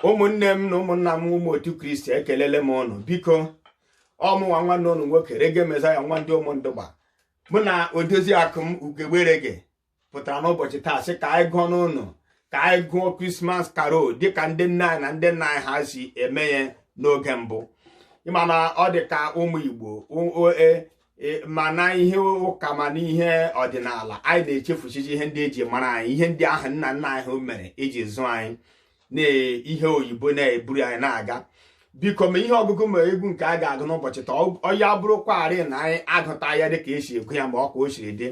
ụmụnne m na ụmụnna m ụmụ otu kristi ekelele m ụnụ biko ọmụnwa nwanne ụnụ nwoke rege mezaya nwa ndị ụmụndụgba mụ na odozi akụ m ugegbe rege pụtara n'ụbọchị taa sị ka anyị gụọ n'ụnụ ka anyị gụọ christmas carol dịka ndị nna anyị na ndị nna anyị ha si eme ya n'oge mbụ ịma na ọ dị ka ụmụ igbo e, e, ma na ihe ụka ma na ihe ọdịnala anyị na-echefuchichi ihe ndị eji mara anyị ihe ndị ahụ nna nna anyị mere iji zụọ anyị na ihe oyibo na-eburu anyị na-aga biko ma ihe ọgụgụ ma egwu nke a ga-agụ n'ụbọchị taa ọ ya bụrụkwarị na anyị agụta ya dịka esi agụ ya ma ọ ka o siri dị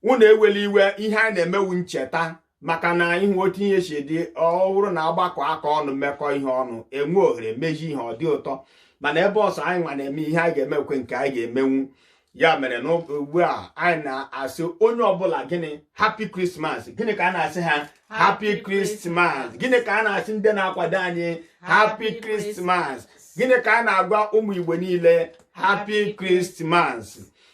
unu ewela iwe ihe anyị na-eme wụ ncheta maka na ịhụ otu ihe si dị ọ bụrụ na agbakọ aka ọnụ mekọọ ihe ọnụ enwe ohere mezie ihe ọ dị ụtọ mana ebe ọ sọ anyị nwa na-eme ihe anyị ga-emekwe nke anyị ga-emenwu ya mere na ugbu a anyị na-asị onye ọbụla gịnị happy christmas gịnị ka anyị na-asị ha happy christmas gịnị ka anyị na-asị ndị na-akwado anyị happy christmas gịnị ka anyị na-agwa ụmụ igbo niile happy christmas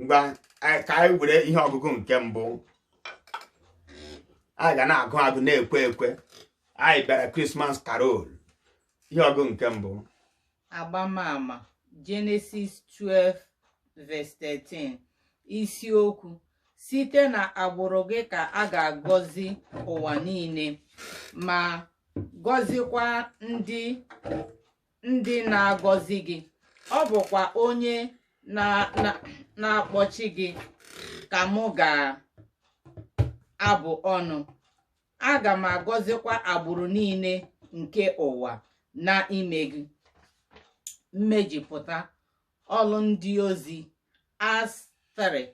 ngwa ka anyị were ihe ọgụgụ nke mbụ anyị ga na-agụ agụ na-ekwe ekwe anyị bịara christmas carol ihe ọgụgụ nke mbụ agbamama jenesis 12 verse 13 isiokwu site na agbụrụ gị ka a ga-agọzi ụwa niile ma gọzikwa ndị ndị na-agọzi gị ọ bụkwa onye na-akpọchi gị ka mụ ga-abụ ọnụ aga m agọzikwa agbụrụ niile nke ụwa na ime gị mmejupụta ọlụ ndị ozi acts 3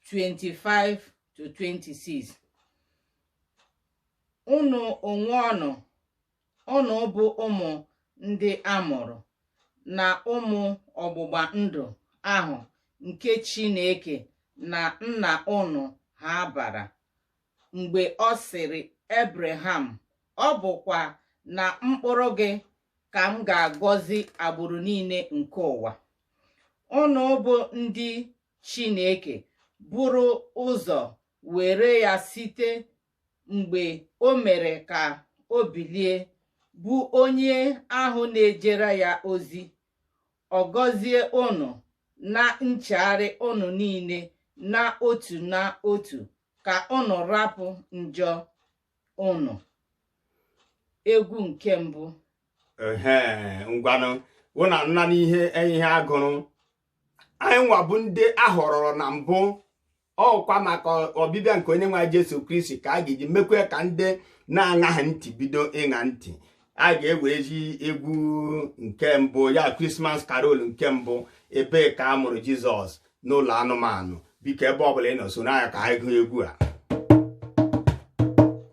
25 to 26 unu onwe unu Ụnụ bụ ụmụ ndị a mụrụ na ụmụ ọgbụgba ndụ ahụ nke Chineke na nna ụnụ ha gbara mgbe ọ sịrị Ebreham ọ bụkwa na mkpụrụ gị ka m ga-agọzi agbụrụ niile nke ụwa ụnụ bụ ndị Chineke buru ụzọ were ya site mgbe o mere ka o bilie bụ onye ahụ na-ejere ya ozi ọ gọzie ụnụ na nchegharị ụnụ niile na otu na otu ka ụnụ rapụ njọ ụnụ egwu nke mbụ ngwanụ ụnụ anụna ihe ihe a gụrụ anyị nwa bụ ndị a họrọrọ na mbụ ọkwa maka ọbịbịa nke onye nwe Jesu Kristi ka a ga-eji mekwaa ka ndị na-aṅaghị ntị bido ịṅa ntị a ga-ewerezi egwu nke mbụ ya Christmas carol nke mbụ ebe ka a mụrụ Jizọs n'ụlọ anụmanụ biko ebe ọbụla ị nọ soro anyị ka anyị gụọ egwu a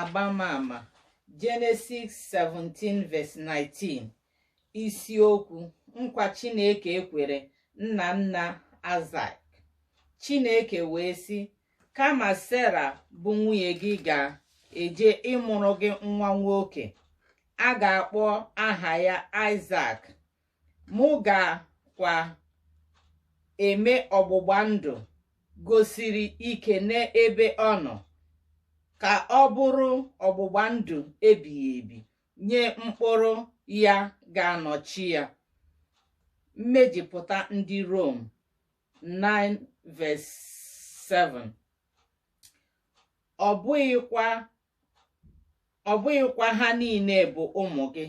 agbamama Jenesis 17 verse 19 isiokwu nkwa Chineke ekwere nna nna Aịsak Chineke wee sị kama Sera bụ nwunye gị ga-eje ịmụrụ gị nwa nwoke a ga-akpọ aha ya Aịsak mụ ga-kwa eme ọgbụgba ndụ gosiri ike n'ebe ọ nọ ka ọ bụrụ ọgbụgba ndụ ebighị ebi nye mkpụrụ ya ga-anọchi ya mmejupụta ndị Rom 9 verse 7 ọ bụghịkwa ọ bụghịkwa ha niile bụ ụmụ gị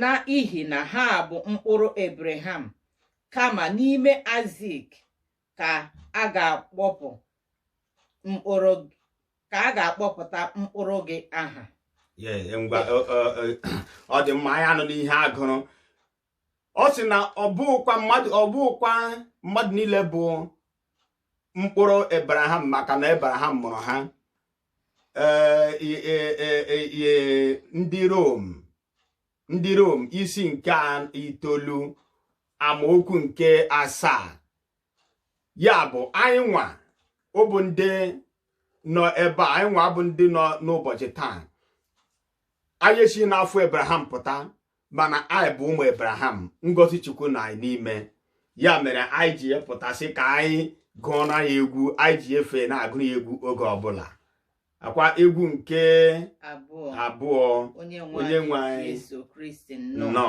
na ihi na ha bụ mkpụrụ Abraham kama n'ime Aịzik ka a ga-akpọpụ mkpụrụ ka a ga-akpọpụta mkpụrụ gị aha ọ dị mma anyị anụna ihe a gụrụ ọ sị na ọ bụkwa mmadụ ọ bụghịkwa mmadụ niile bụ mkpụrụ Abraham maka na Abraham mụrụ ha eh, eh, eh, ndị Rom ndị Rom isi nke itoolu amaokwu nke asaa ya bụ anyị nwa ọ bụ ndị nọ ebe a anyị nwa bụ ndị nọ n'ụbọchị taa anyị si n'afọ Abraham pụta mana anyị bụ ụmụ Abraham ngọzi Chukwu nọ anyị n'ime ya mere anyị ji pụta sị ka anyị gụọ na ya egwu anyị ji efe na-agụ ya egwu oge ọbụla akwa egwu nke abụọ onye nwe anyị nọ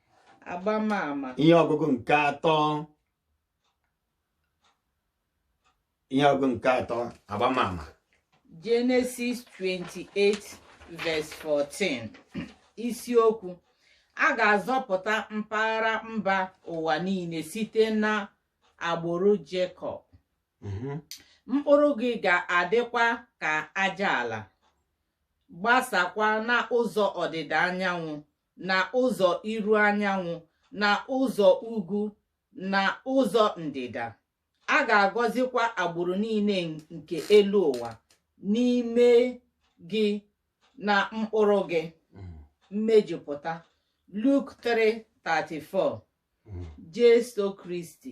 agbamama ihe ọgụgụ nke atọ ihe ọgụgụ nke atọ agbamama Genesis 28 verse 14 isiokwu a ga-azọpụta mpaghara mba ụwa niile site na agbụrụ Jekọb mhm. mkpụrụ gị ga-adịkwa ka aja ala gbasakwa n'ụzọ ọdịda anyanwụ na ụzọ iru anyanwụ na ụzọ ugwu na ụzọ ndịda a ga-agọzikwa agbụrụ niile nke elu ụwa n'ime gị na mkpụrụ gị mmejupụta Luk 3:34 Jesu Kristi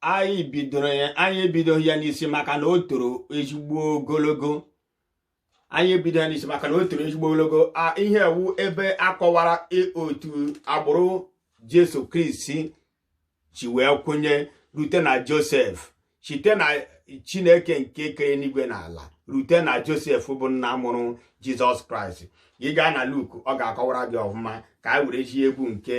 anyị bidoro ya anyị ebidoghị ya n'isi maka na o toro ezigbo ogologo ihe a wụ ebe a kọwara otu agbụrụ jesu kristi si wee kwụnye rute na josef site na chineke nke kere enigwe na ala rute na josef bụ nna mụrụ jizọs kraịst ị gaa na luk ọ ga-akọwara gị ọfụma ka anyị werezie egwu nke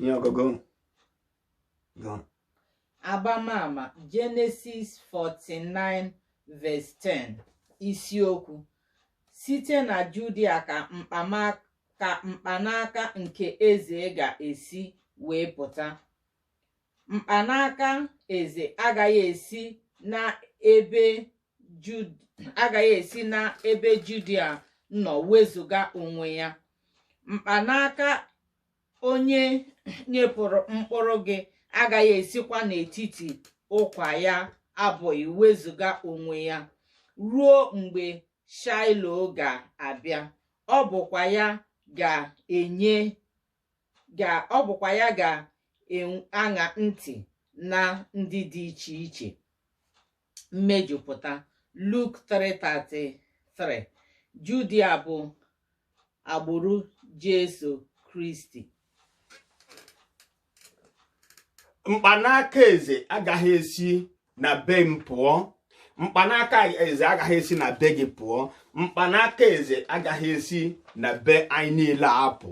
ihe ọgụgụ gụ agbamama jenesis 49 verse 10 isiokwu site na judia ka mkpanaka nke eze ga-esi wee pụta mkpanaka eze agaghị esi n'ebe agaghị esi n'ebe Judia nọ wezuga onwe ya mkpanaka onye nyepụrụ mkpụrụ gị agaghị esikwa n'etiti ụkwụ ya abụọ wezuga onwe ya ruo mgbe Shaịlo ga-abịa ọ bụkwa ya ga-enye ga ọ bụkwa ya ga-aṅa ntị na ndị dị iche iche mmejupụta Luk 3:33 Judia bụ agbụrụ Jesu Kristi mkpanaka eze agaghị esi na be m pụọ mkpanaka eze agaghị esi na be gị pụọ mkpanaka eze agaghị esi na be anyị niile apụ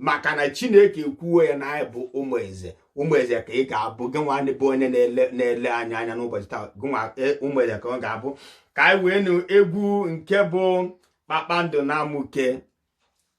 maka na chineke ekwuo ya na anyị bụ ụmụ eze ụmụ eze ka ị ga-abụ gị nwa bụ onye na-ele anyị anya n'ụbọchị taa gịnwa e, ụmụ eze ka ọ ga-abụ ka anyị wee nụ egwu nke bụ kpakpando na-amụke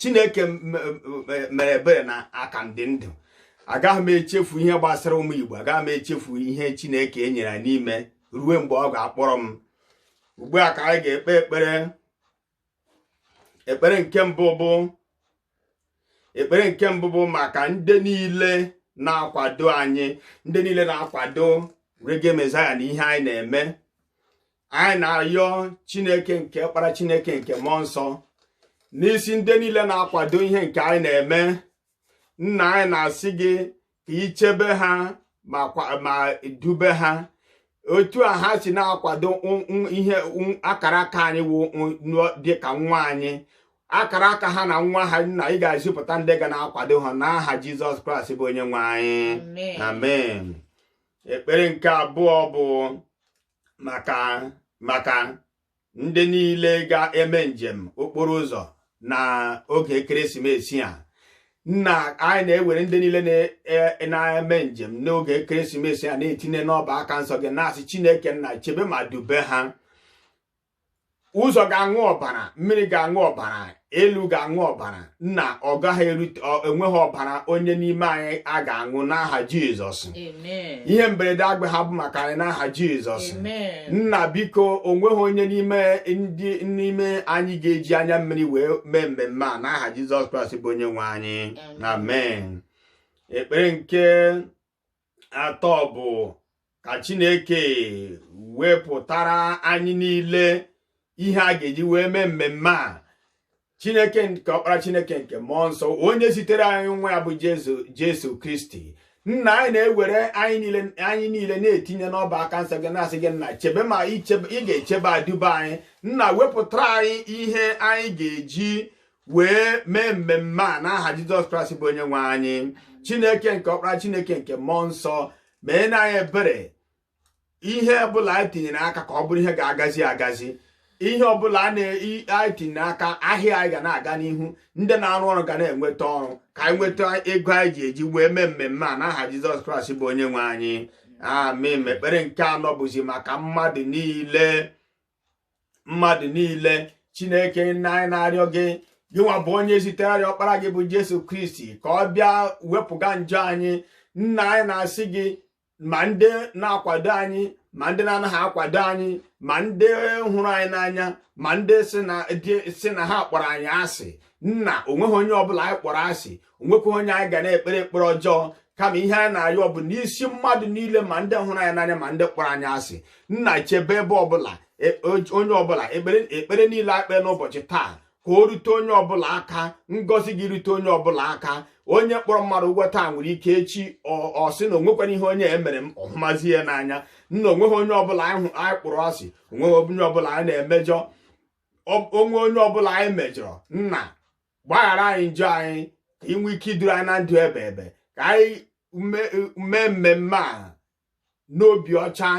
chineke mere ebere na a ka m dị ndụ agaghị m echefu ihe gbasara ụmụ igbo agaghị m echefu ihe chineke nyere m ime ruo mgbe ọ ga-akpọrọ m ugbu a ka anyị ga-ekpe ekpere ekpere nke mbụ bụ ekpere nke mbụ bụ maka ndị niile na-akwado anyị ndị niile na-akwado reggae messiah na ihe anyị na-eme anyị na-ayọ chineke nke ọkpara chineke nke mmụọ nsọ n'isi ndị niile na-akwado ihe nke anyị na-eme nna anyị na-asị gị ka i chebe ha ma dube ha otu a ha si na-akwado ihe akara aka anyị wụ dịka nwa anyị akara aka ha na nwa ha nna ị ga-ezipụta ndị ga na-akwado ha n'aha jizọs kraịst bụ onye nwe anyị amen ekpere nke abụọ bụ maka maka ndị niile ga-eme njem okporo ụzọ na oge ekeresimesi a nna anyị na-ewere ndị niile e, na-eme njem n'oge ekeresimesi a na-etinye n'ọbụ aka nsọ gị na-asị chineke nna chebe ma dube ha ụzọ ga-aṅụ ọbara mmiri ga-aṅụ ọbara elu ga-aṅụ ọbara nna ọ gaghị eru onweghị ọbara onye n'ime anyị a ga-aṅụ n'aha jizọs ihe mberede agaha abụ maka anyị n'aha jizọs nna biko onweghị onye n'ime n'ime anyị ga-eji anya mmiri wee mee mmemme a n'aha jizọs kraịst bụ onye nwe anyị amen ekpere nke atọ bụ ka Chineke wepụtara anyị niile ihe a ga-eji wee mee mmemme a Chineke nke ọkpara Chineke nke mmụọ nsọ onye zitere anyị nwa ya bụ Jesu Kristi nna anyị na-ewere anyị niile na-etinye n'ọbụ aka nsọ gị na-asị gị nna chebe ma ị ga-echebe aduba anyị nna wepụtara anyị ihe anyị ga-eji wee mee mmemme a n'aha jizọs kraịst bụ onye nwe anyị chineke nke ọkpara chineke nke mmụọ nsọ meena anyị ebere ihe ọbụla anyị tinyere aka ka ọ bụrụ ihe ga-agazi agazi ihe ọbụla anyị tinyere aka ahịa anyị ga na-aga n'ihu ndị na-arụ ọrụ ga na-enweta ọrụ ka anyị nweta ego anyị ga-eji wee mee mmemme a n'aha jizọs kraịst bụ onye nwe anyị amen ekpere nke anọ bụzi maka mmadụ niile mmadụ niile chineke nna anyị na-arịọ gị gị nwa bụ onye zitere ọkpara gị bụ jesu kristi ka ọ bịa wepụga njọ anyị nna anyị na-asị gị ma ndị na-akwado anyị ma ndị na-anaghị akwado anyị ma ndị hụrụ anyị n'anya ma ndị sị na ha kpọrọ anyị asị nna onweghị onye ọbụla anyị kpọrọ asị onwekwa onye anyị ga na-ekpere ekpere ọjọọ kama ihe anyị na-arịọ bụ n'isi mmadụ niile ma ndị hụrụ anyị n'anya ma ndị kpọrọ anyị asị nna chebe ebe ọbụla e, onye ọbụla ekpere niile e kpere n'ụbọchị taa ka o rute onye ọbụla aka ngọzi gị rute onye ọbụla aka onye kpọrọ mmadụ ụgwọ taa nwere ike echi ọ sị na onwekwara ihe onye a mere m ọ hụmazie ya n'anya nna onweghị onye ọbụla anyị kpọrọ asị onweghị onye ọbụla anyị na-emejọ o nwee onye ọbụla anyị mejọrọ nna gbaghara anyị njọ anyị ka ị nwee ike iduru anyị na ndụ ebeebe ka anyị mee mmemme a n'obi ọcha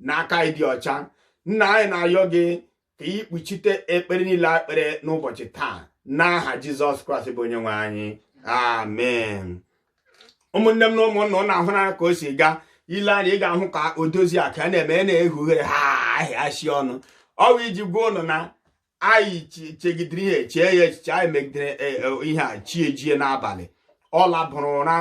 na aka ịdị ọcha nna anyị na-ayọ gị ka ị kpuchite ekpere niile e kpere n'ụbọchị taa n'aha jizọs kraịst bụ onye nwe anyị amen ụmụnne m na ụmụnna ụnụ ahụna ka o si gaa i lee anya ị ga-ahụ ka odoziakụ na-eme na-ehe ughere ha ahịa shi ọnụ ọ wụ iji gwa ụnụ na anyị chegidere ihe chee ya echiche anyị megidere e, e, ihe a chi ejie n'abalị ọ labụrụ ụra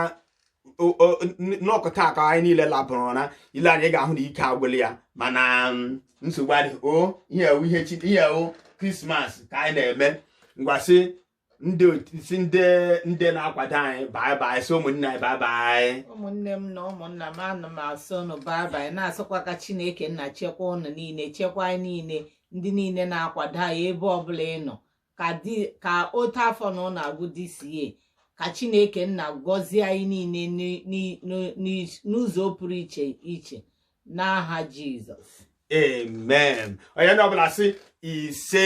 n'ọkụta aka anyị niile labụrụ ụra i lee anya ị ga-ahụ na ike agwụla ya mana mm, nsogbu adịghị ọ ihe ewu ihe ewu krismas ka anyị na-eme ngwa sị ndị sị ndị ndị na-akwado anyị bye bye sị ụmụnne anyị bye bye ụmụnne m na ụmụnna m ana m asị ụnụ bye bye na-asịkwa ka chineke nna chekwa ụnụ niile chekwa anyị niile ndị niile na-akwado anyị ebe ọbụla ị nọ ka otu afọ na ụnụ agwụ this year ka chineke nna gọzie anyị niile n'ụzọ pụrụ iche n'aha jizọs amen onye ọbụla sị ise